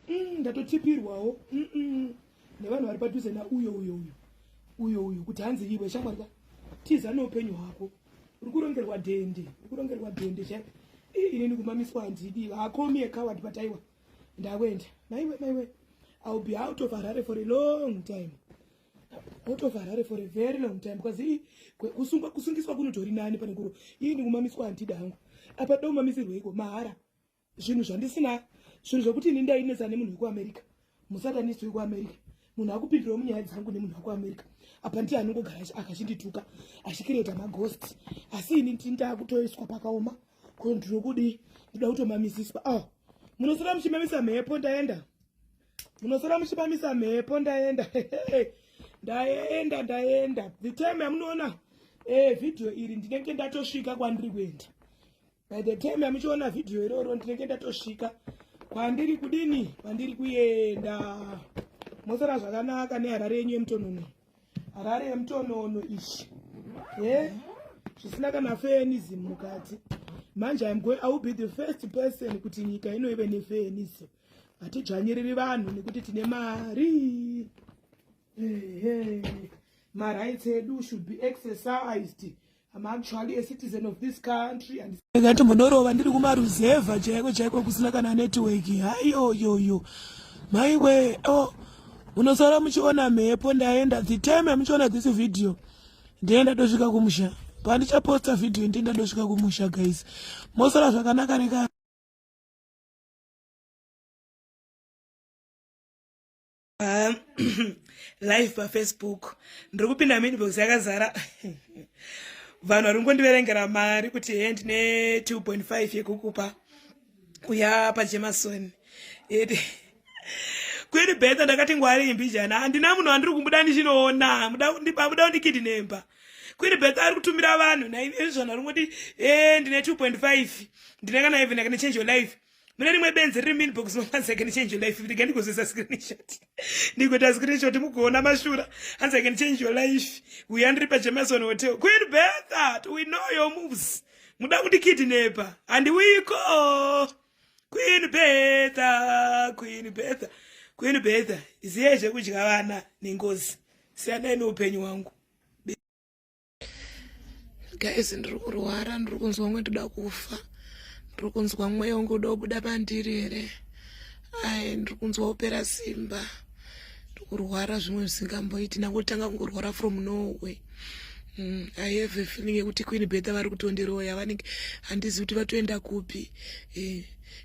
mm, ndatotipirwawo mm -mm. nevanhu vari padhuze nauyo uyo uyo uyo uyo kuti hanzi iwe shamwari ka tiza neupenyu hwako uri kurongerwa dhende uri kurongerwa dhende chai ini ndikumamiswa handidi hakomi yekawadi pataiwa ndawenda maiwe maiwe ill be out of harare for a long time out of harare for a very long time because kusungwa kusungiswa kunotori nani pane kuro ii ndikumamiswa handidi hangu apa domamisirweiko mahara zvinhu zvandisina zvinhu zvekuti ini ndainetsa nemunhu wekuamerica musatanisi wekuamerica munhu akupindirawo munyaya dzangu nemunhu wekuamerica apa ndiye anongogara akachindituka achikireta maghost asi ini ndini ndaakutoiswa pakaoma ko ndiri kudii ndida kutomamisiswa o oh, munosara muchimamisa mhepo ndaenda munosara muchimamisa mhepo ndaenda ndaenda ndaenda the time yamunoona e eh, vhidhiyo iri ndinenge ndatosvika kwandiri kuenda By the time amuchiona video iroro ndinenge ndatosvika kwandiri kudini kwandiri kuenda mosara zvakanaka neharare yenyu yemutonono harare yemutonono ichi e zvisina kana feenism mukati manje im going i will be the first person kuti nyika ino ive nefeenism hatidzvanyiriri vanhu nekuti tine mari marights edu should be exercised I'm actually a citizen of this country and ngati munorova ndiri kumaruzevha chaiko chaiko kusina kana network hayoyoyo maiwe oh unosara muchiona mhepo ndaenda the time amuchiona this video ndienda tosvika kumusha pandichaposta video ndienda tosvika kumusha guys mosara zvakanaka neka pa live pafacebook ndiri kupinda minbox yakazara vanhu vari kungondiverengera mari kuti he ndine 2.5 yekukupa uya pajemason kwiri beta ndakati ngwari imbijana handina munhu wandiri kumbuda ndichinoona muda kundikithi nemba kwiri beta ari kutumira vanhu naizvona ringoti e eh, ndine 2.5 ndine kana even kana change your life mune rimwe benzi riri minbox hanzi can change your life rega ndikozesa screenshot ndigoita screenshot mugoona mashura hanzi can change your life uya ndiri pajemason hotel queen berthat we know your moves muda kundikidnepa handiwiko queen bertha queen bertha queen bertha ziyai zvekudya vana nengozi siyanai neupenyu hwangu guys ndiri kurwara ndiri kunzwa kunge ndoda kufa ndiri kunzwa mweya wangu uda kubuda pandiri here ai ndiri kunzwa kupera simba ndiri kurwara zvimwe zvisingamboiti ndangotanga kungorwara from norway Mm, i have a feeling yekuti queen betha vari kutondiroya vanenge handizi kuti vatoenda kupi eh.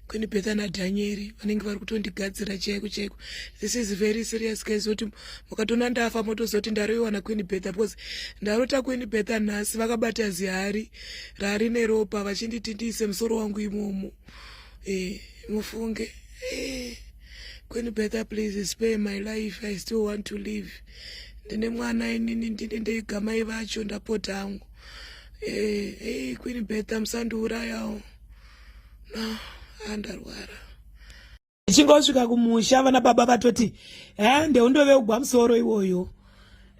Queen Betha naDhanyeri vanenge vari kutondigadzira chaiko chaiko. This is very serious guys kuti mukatona ndafa motozoti ndaroiwana Queen Betha because ndarota Queen Betha nhasi vakabata zihari rari neropa vachinditi ndiise musoro wangu imomo. Eh, mufunge. Eh. Queen Betha please spare my life I still want to live. Ndine mwana inini ndine ndeigamai vacho ndapota hangu. Eh, hey eh, Queen Betha musandiurayawo. no andarwara ichinge wasvika kumusha vana baba vatoti hande undove ugwa musoro iwoyo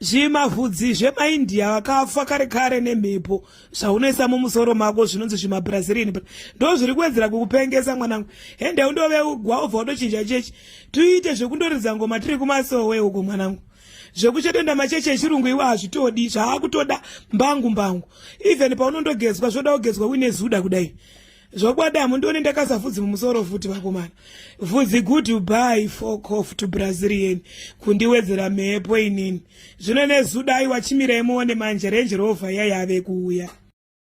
zvimavhudzi zvemaindia vakafa kare kare nemhepo zvaunoisa mumusoro mako zvinonzi zvimabrazilian ndo zviri kuwedzera kukupengesa mwanangu hende undoveugwa ubva utochinja chechi tuite zvekundoridza ngoma tiri kumasowe uko mwanangu zvekuchedenda macheche echirungu iwe hazvitodi zvaakutoda mbangu mbangu even paunondogezwa zvoda kugezwa uine zuda kudai zvokwadi hamundione ndakaisa vhudzi mumusoro futi vakomana vhudzi good by focof to brazilian kundiwedzera mhepo inini zvino nezuda aiwa chimirai muone manje range rover yaiave kuuya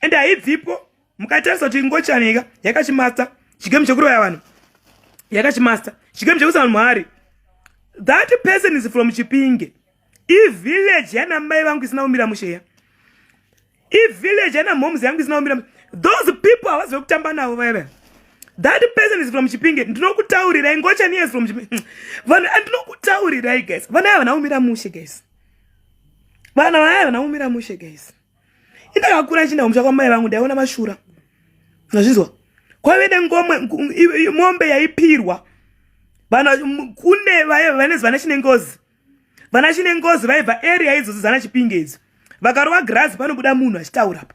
ende haibvipo mukatarisa kuti ngochanika yakachimasta chigame chekuroya vanhu yakachimasta chigame chekusa vanhu muhari that person is from chipinge ivillage yana mai vangu isina kumira musheya ivillage yana moms yangu isina kumira those people havazive kutamba navo vaiva that person is from chipinge ndinokutaurirai ngochani yes from chipinge vanhu andinokutaurirai guys vana yava vana kumira mushe guys vana vaya vana kumira mushe guys indakakura ichinda kumusha kwamai vangu ndaiona mashura nazvinzwa kwave nengomwe mombe yaipirwa kune vanezi vana chine ngozi vana chine ngozi vaibva area idzodzo dzana chipinge idzo vakarova girazi panobuda munhu achitaura pa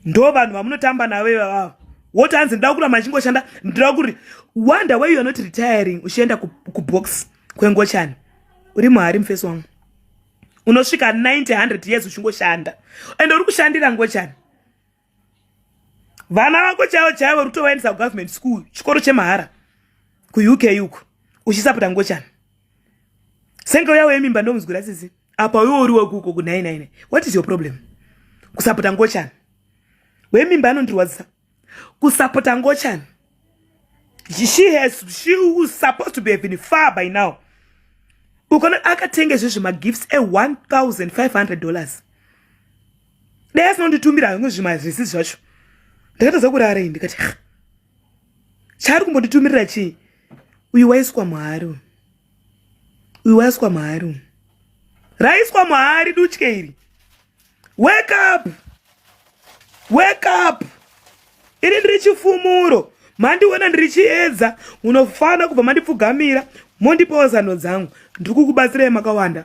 ndo vanhu vamunotamba navo ivavavo woti hanzi ndida kura machingoshanda ndida kuri wonder way youare not retiring uchienda kubox kwengochani uri muhari mufesi wangu unosvika 900 years uchingoshanda and uri kushandira ngochani vana vako chaivo chaivo uri kutovaendesa kugovernment school chikoro chemahara kuuk uko uchisapota ngochani senge uya wemimba ndomuzwira sisi apa uyo uri wekuko ku999 what is your problem kusapota ngochani wemimba anondirwadzisa kusapota ngochani she has she was supposed to be having far by now ukona akatenga izvozvi magifts e1500 dollars dai asinonditumira hamwe zvimazvisi zvacho ndakatadza kurara iyi ndikati chaari kumbonditumirira chii uyu waiswa mwari uyu uyu waiswa mahari uyu raiswa mahari dutye iri wake up wake up ini ndiri chifumuro mandiona ndiri chiedza munofanira kubva mandipfugamira mondipawo zano dzangu ndiri kukubatsirai makawanda